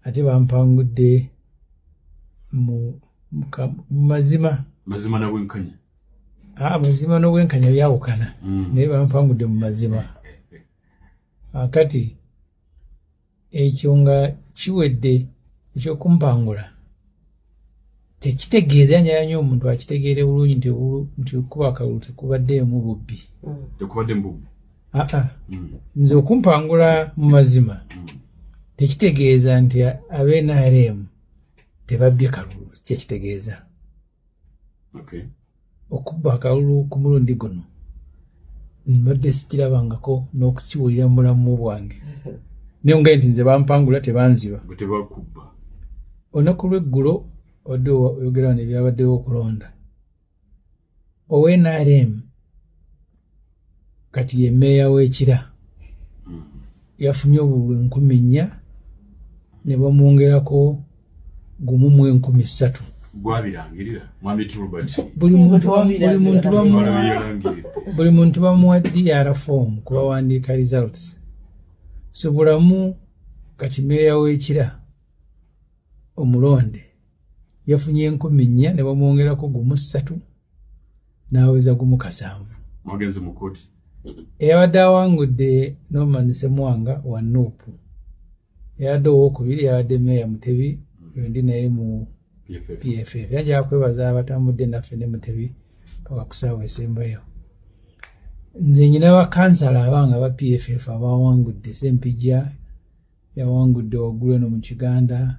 ate bampangudde mu mazima mazima nabwenkanya amazima ah, n'obwenkanya byawukana mm. naye bampangudde mu mazima akati ekyo nga kiwedde ekyokumpangula tekitegeeza nyaya nyo omuntu akitegeere bulungi nti nti okuba akalulu tekubaddeemu bubbi mm. tekubaddemu bubbi aa ah, ah. mm. nze okumpangula mu mazima mm. tekitegeeza nti abe nrm tebabbye kalulu kyekitegeeza okay. okubba akalulu ku mulundi guno mbadde sikirabangako n'okukiwulira mu bulamu bwange naye nga nti nze bampangula tebanziba olunaku lweggulo odde oyogera wano ebyabaddewo okulonda ownrm kati ye meeya w'ekira hmm. yafunye obululu enkumi nnya ne bamwongerako gumu mu enkumi ssatu buli muntu bamuwa dr form kubawandiika results so bulamu kati meeya w'ekira omulonde yafunye enkumi nnya ne bamwongerako gumu ssatu n'aweza gumu kasanvu magezi mu kkooti eyabadde awangudde norman semwanga wa nuupu eyabadde owokubiri yabadde meeya mutebi endi naye mu pff era nja kwebaza abatambudde naffe ne mutebi paka kusaawa esembayo nze nyina bakansala abanga ba pff abawangudde sempijja yawangudde waggulu eno mu kiganda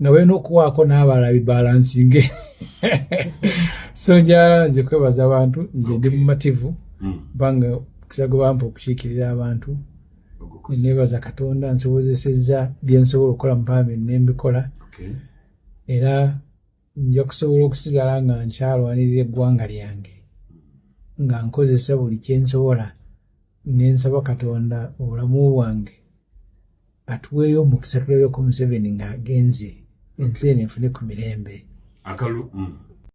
nga balina okuwaako n'abalala bibalansinge so njala nze kwebaza abantu nze ndi mumativu hmm. kubanga kisago bampa okukiikirira abantu nebaza katonda nsobozesezza byensobola okukola mupambi nembikola era nja kusobola okusigala nga nkyalwanirira eggwanga lyange nga nkozesa buli kyensobola nensaba katonda obulamu bwange atuweeyo omukisa tulabeko museveni ng'agenze ensi eno efune ku mirembe akalulu mm.